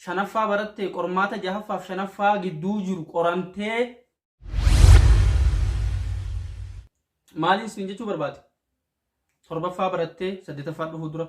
shanaffaa baratte qormaata jahaffaaf shanaffaa gidduu jiru qorantee maaliin siin jechuu barbaade torbaffaa barattee saddetaffaa dhufuu dura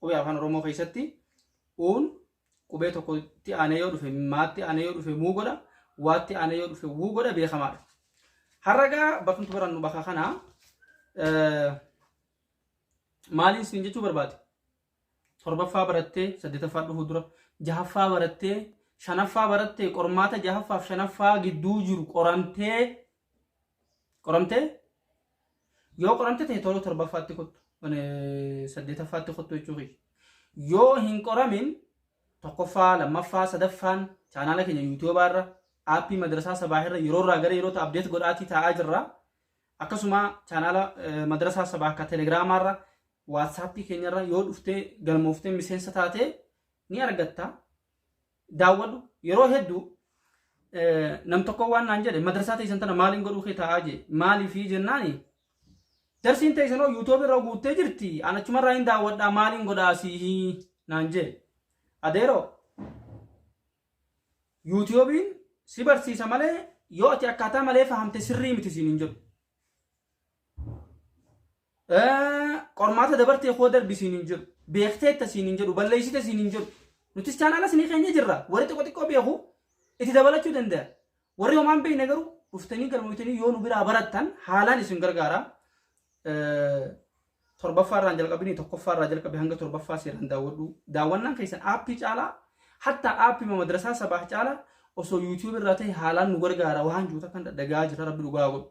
Qubee Afaan Oromoo keessatti uun qubee tokkotti aanee yoo dhufe maatti aanee yoo dhufe muu godha waatti aanee yoo dhufe wuu godha beekamaadha. Har'a gaa bakkumti barannu bakka kana maaliin siin jechuu barbaade? Torbaffaa barattee saddeetaffaa dhufuu dura jahaffaa barattee shanaffaa barattee qormaata jahaffaaf shanaffaa gidduu jiru qoramtee Qoramtee yoo qoramte ta'e toora torbaffaatti kottu saddeetaffaatti kottu jechuu kiyya. Yoo hin qoramin tokkoffaa lammaffaa sadaffaan chaanaala keenya yuutuubaa irra aappii madrasaa sabaa irra yeroo irraa gara yerootti abdeet godhaatii taa'aa jirra. Akkasuma chaanaala madrasaa sabaa akka telegiraamaa irra waatsaappii keenya irra yoo dhuftee galmooftee miseensa taatee ni argatta. daawwadhu yeroo hedduu eh, nam tokko waan naan jedhe madrasaa teessan tana maaliin godhuu kee taa'aa jee maaliifii jennaani darsiin teessanoo yuutuubii irra guuttee jirti an achumarraa hin daawwadhaa maaliin godhaa siihii naan jee adeeroo yuutuubiin si barsiisa malee yoo ati akkaataa malee fahamte sirrii miti siin hin jedhu qormaata dabartee koo darbi siin hin jedhu beekteetta siin hin jedhu balleessite siin hin jedhu nutis chaanaala isinii keenya jirra warri xiqqoo xiqqoo beeku itti dabalachuu danda'a warri homaan beekne garuu dhuftanii galmootanii yoo nu biraa barattan haalaan isin gargaara torbaffaa irraan jalqabinii tokkoffaa irraa jalqabe hanga torbaffaa seeraan daawwadhu daawwannaan keessan aappii caalaa hatta aappii madrasaa sabaah caalaa osoo yuutuubii irraa ta'e haalaan nu gargaara waan juuta kan dhagahaa jira rabbi dhugaa godhu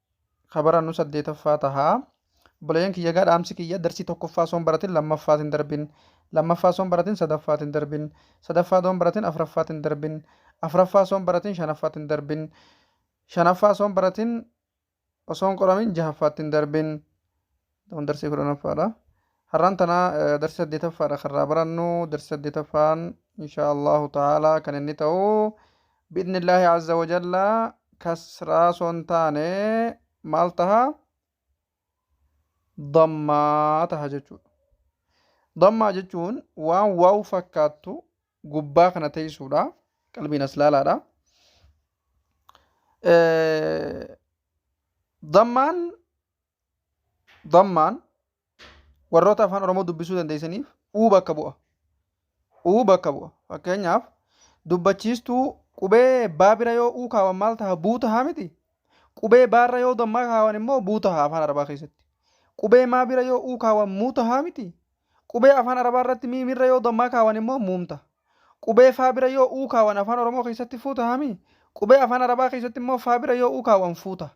ka barannu saddeetaffaa taha. Obboleeyyan kiyya egaa dhaamsi kiyya darsii tokkoffaa osoo hin baratin lammaffaa hin darbin. Lammaffaa osoo hin baratin sadaffaa hin darbin. Sadaffaa osoo hin baratin afraffaa hin darbin. Afraffaa osoo hin baratin shanaffaa hin darbin. Shanaffaa osoo hin baratin osoo hin qoramin jahaffaa hin darbin. Kun darsii kudhanaffaadha. Har'aan tana eh, darsii saddeetaffaadha kan irraa barannu. Darsii saddeetaffaan inshaa Allahu ta'ala kan inni ta'u bi'idnillaahi azza wa jalla kasraa osoo hin taane maal taha dammaa taha jechuudha. Dammaa jechuun waan waaw fakkaattu gubbaa kana teessuudha. Qalbiin as laalaadha. Eh, Dammaan Dammaan warroota afaan Oromoo dubbisuu dandeessaniif uu bakka bu'a. Uu bakka bu'a. Fakkeenyaaf dubbachiistuu qubee baa bira yoo uu kaawan maal taha buu taha miti. Qubee baarra yoo dammaa kaawan immoo buu taha afaan Arabaa keessatti. Qubee maa bira yoo uu kaawan muu taha miti. Qubee afaan Arabaa irratti miim irra yoo dammaa kaawan immoo muum taha. Qubee faa bira yoo uu kaawan afaan Oromoo keessatti fuu taha mii. Qubee afaan Arabaa keessatti immoo faa bira yoo uu kaawan fuu taha.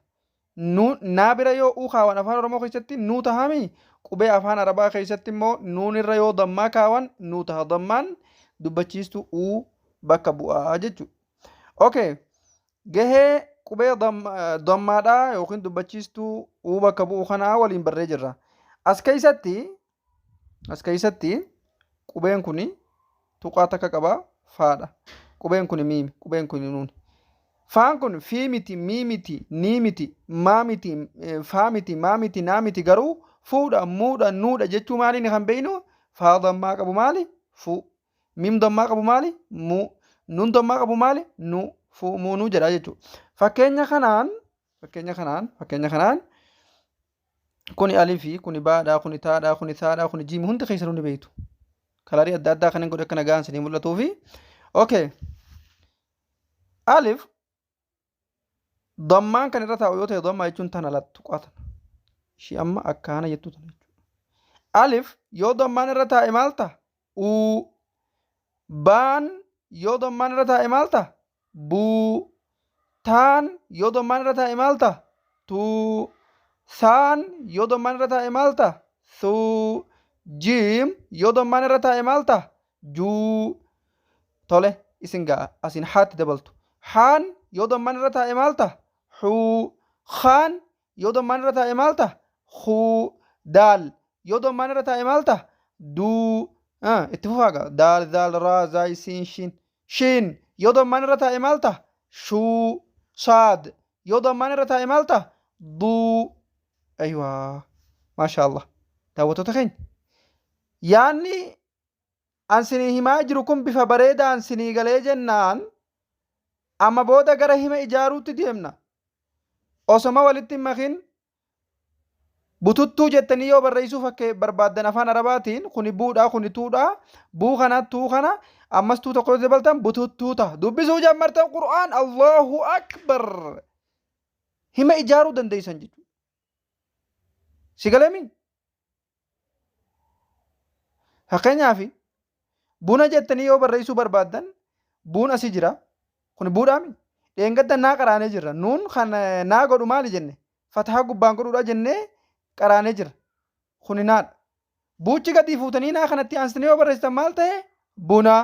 Nuun, naa bira yoo uu kaawan Afaan Oromoo keessatti nuu taha mii? Qubee Afaan Arabaa keessatti immoo nuun irra yoo dammaa kaawan nuu taha. Dammaan dubbachiistuu uu bakka bu'a jechuudha. Ok. Gahee qubee dammaadhaa yookiin dubbachiistuu uu bakka bu'u kanaa waliin barree jirra. As keessatti As keessatti qubeen kun tuqaa takka qaba faadha. Qubeen kun miimi, qubeen kun nuuni. Faan kun fii miti, mii miti, nii miti, maa miti, eh, faa miti, maa miti, naa miti garuu fuudha, muudha, nuudha jechuu maaliin kan beeknu faa dammaa qabu maali? Fuu. Miim dammaa qabu maali? Muu. Nuun dammaa qabu maali? Nuu. Fuu, muu, nuu jedha jechuudha. Fakkeenya kanaan, fakkeenya kanaan, fakkeenya kanaan Kuni alifi, kuni baadha, kuni taadha, kuni saadha, kuni jiimi hundi keessanuu ni beektu. Kalarii adda addaa kanneen godhe akka nagaan isinii mul'atuu fi okay. Alif dammaan kan irra taa'u yoo ta'e dammaa jechuun tana lattu qoatan. Ishii amma akkaana jettuu tana jechuudha. Alif yoo dammaan irra taa'e maal ta'a? uu Baan yoo dommaan irra taa'e maal ta'a? Buu Taan yoo dommaan irra taa'e maal ta'a? Tuu Saan yoo dommaan irra taa'e maal ta'a? Suu Jiim yoo dommaan irra taa'e maal ta'a? Juu Tole isin ga'a asin haatti dabaltu. Haan yoo dommaan irra taa'e maal ta'a? Huu Haan yoo dammaan irra taa'e maal ta'a huu daal yoo dammaan irra taa'e maal ta'a duu Ah, itti fufaa gaa daal zaal raa zaay siin shiin shiin yoo dammaan irra taa'e maal ta'a shuu saad yoo dammaan irra taa'e maal ta'a duu aywa maashaa allah daawwattoota keenya yaanni An sinii himaa jiru kun bifa bareedaan sinii galee jennaan amma booda gara hima ijaaruutti deemna. Osoma walitti hin makin bututtuu jettanii yoo barreessuu fakkee barbaaddan afaan arabaatiin kuni buudha kuni tuudha buu kana tuu kana ammas tuu tokko yoo dabaltan bututtuu taha. Dubbisuu jammartan Qur'aan Allahu Akbar hima ijaaruu dandeessan jechuudha. Si galemii? Fakkeenyaaf buna jettanii yoo barreessuu barbaaddan buun asii jira. Kun buudhaami. Dheengadda naa qaraanee jirra. Nuun kan naa godhu maali jenne? Fatahaa gubbaan godhuudha jennee qaraanee jirra. Kuni naadha. Buuchi gadii fuutanii naa kanatti aansitanii yoo barreessitan maal ta'e? Bunaa.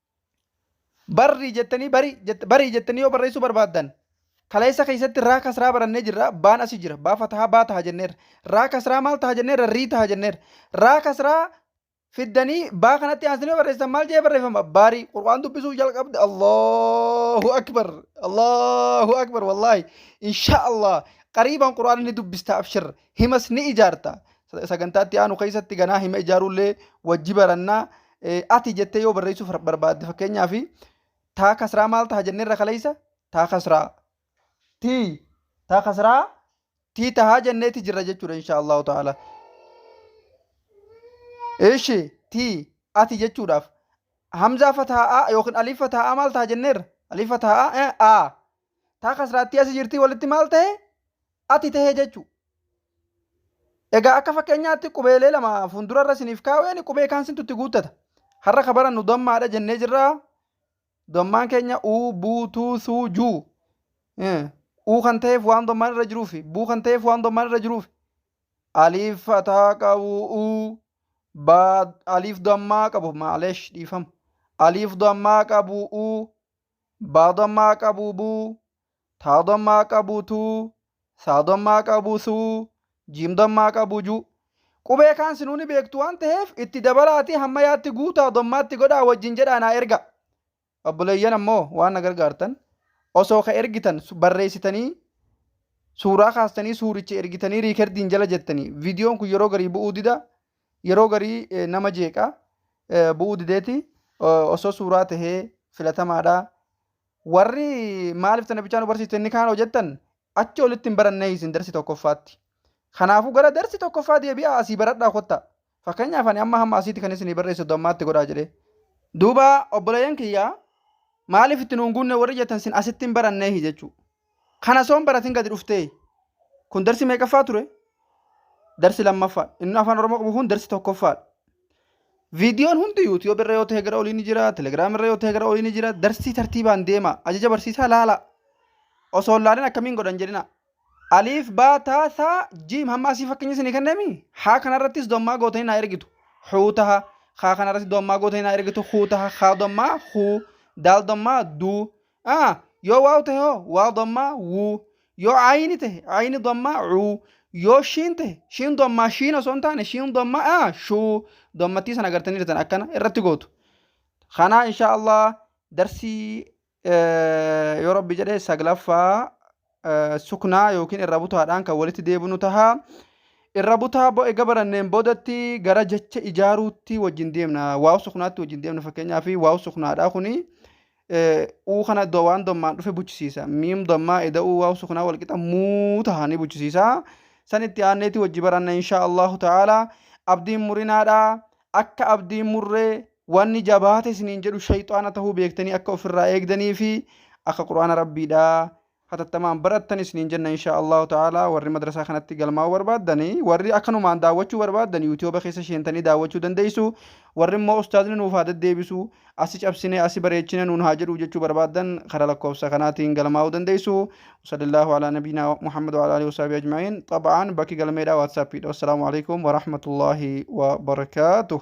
barri jettanii bari jett- barii jettanii yoo barreessuu barbaaddan kaleessa keessatti raa kasraa barannee jirra baan asi jira baa fatahaa baa taha jenneerra raa kasraa maal taha jenneerra rii taha jenneerra raa kasraa fiddanii baa kanatti aansinee barreessan maal jee barreeffama baarii qur'aan dubbisuu jalqabde allahu akbar allahu akbar wallaahi insha allah qariibaan qur'aan ni dubbista abshir himas ni ijaarta. Sa- Sagantaa itti aanu keessatti ganaa hima ijaaruullee wajji barannaa Eh, ati jettee yoo barreessuuf barbaadde fakkeenyaaf taa kasraa maal taha jenneerra kaleessa taa kasraa tii taa kasraa tii tahaa jenneeti jirra jechuudha insha Allahu ta'ala. Ishi tii ati jechuudhaaf hamzaa fataa'aa yookiin alif fataa'aa maal taha jenneerra alif fataa'aa eh, a taa kasraattii asi jirtii walitti maal ta'e ati tahe jechuu. Egaa akka fakkeenyaatti qubeelee lama fuuldura irra isiniif kaaween qubee kaan sintu itti guuttata. Har'a ka barannu dammaadha jennee jirra. Dammaan keenya u, bu, tu, su, ju. U kan ta'eef waan dammaan irra jiruuf, bu kan ta'eef waan dammaan irra jiruuf. Aliif fataa qabu u, ba aliif dammaa qabu maalesh dhiifama. Aliif dammaa qabu u, ba dammaa qabu bu, taadammaa qabu tuu, saadammaa qabu suu, jiimdammaa qabu juu. Qubee kaan sinuu ni beektu waan ta'eef itti dabalaatii hamma yaatti guutaa dammaatti godhaa wajjin jedhaa naa erga. Obboleeyyan ammoo waan na gargaartan osoo ka ergitan barreessitanii suuraa kaastanii suuricha ergitanii riikerdiin jala jettanii viidiyoon kun yeroo garii bu'uu dida yeroo garii nama jeeqa bu'uu dideeti osoo suuraa tahee filatamaadha Warri maaliif tana bichaa nu barsiiste inni kaan hojjettan achi olitti hin barannee isin darsi tokkoffaatti. Kanaafuu gara darsi tokkoffaa deebi'aa asii baradhaa kotta. Fakkeenyaaf ani amma hamma asiitti kan isinii barreessu iddoo ammaatti godhaa jedhee. Duuba obboleeyyan kiyyaa maaliif itti nuun guunne warri jettan sin asitti hin barannee jechuu. Kan osoo hin baratin gadi dhufte kun darsi meeqaffaa ture? Darsi lammaffaa. Inni afaan Oromoo qabu kun darsi tokkoffaadha. Viidiyoon hundi YouTube irra yoo ta'e gara olii ni jira, Telegram irra yoo ta'e gara olii ni jira. Darsii tartiibaan deema. Ajaja barsiisaa laala. Osoo hin laalin akkamiin godhan jedhina. Aliif baa taa saa jiim hamma asii fakkeenya isinii kenneemi. Haa kanarrattis dommaa gootanii naa ergitu. Huu taha. Haa kanarratti dommaa gootanii naa ergitu. Huu taha. Haa dommaa huu. Daal dommaa duu. aa yoo waaw tahe hoo waaw dammaa wuu yoo ayini tahe ayini dammaa cuu yoo shiin tahe shiin dammaa shiin osoo hin taane shiin dammaa aa shuu dammattii sana agartanii jirtan akkana irratti gootu kanaa insha allah darsii eh, yoo rabbi jedhe saglaffaa suknaa yookiin irra butaadhaan kan walitti deebinu taha. Irra butaa bo- eega baranneen boodatti gara jecha ijaaruutti wajjin deemna. Waaw suknaatti wajjin deemna fakkeenyaaf waaw suknaadhaa kuni eh, uu kana do- waan dommaan dhufe buchisiisa. Miim dommaa eda'uu waaw suknaa walqixa muu taha ni buchisiisa. San itti aanneeti wajji baranna inshaa Allahu ta'aala. Abdiin murinaadha. Akka abdiin murree Wanni jabaate isiniin jedhu shayxaana tahuu beektanii akka ofirraa eegdanii fi akka qur'aana Rabbiidhaa hatattamaan barattan isiniin jenna inshaa Allahu ta'aalaa warri madrasaa kanatti galmaa'uu barbaaddan warri akkanumaan daawwachuu barbaaddan yuutiyooba keessa sheentanii daawwachuu dandeeysu warri immoo ustaazni nuuf haa deddeebisu asi cabsine asi bareechine nuun haa jedhu jechuu barbaaddan kara lakkoofsa kanaatiin galmaa'uu dandeeysu wasallallaahu alaa nabiinaa muhammad wa alaa alihi wasaabii ajma'iin xaba'aan bakki galmeedhaa waatsaappiidha wassalaamu alaikum warahmatullaahi wabarakaatuh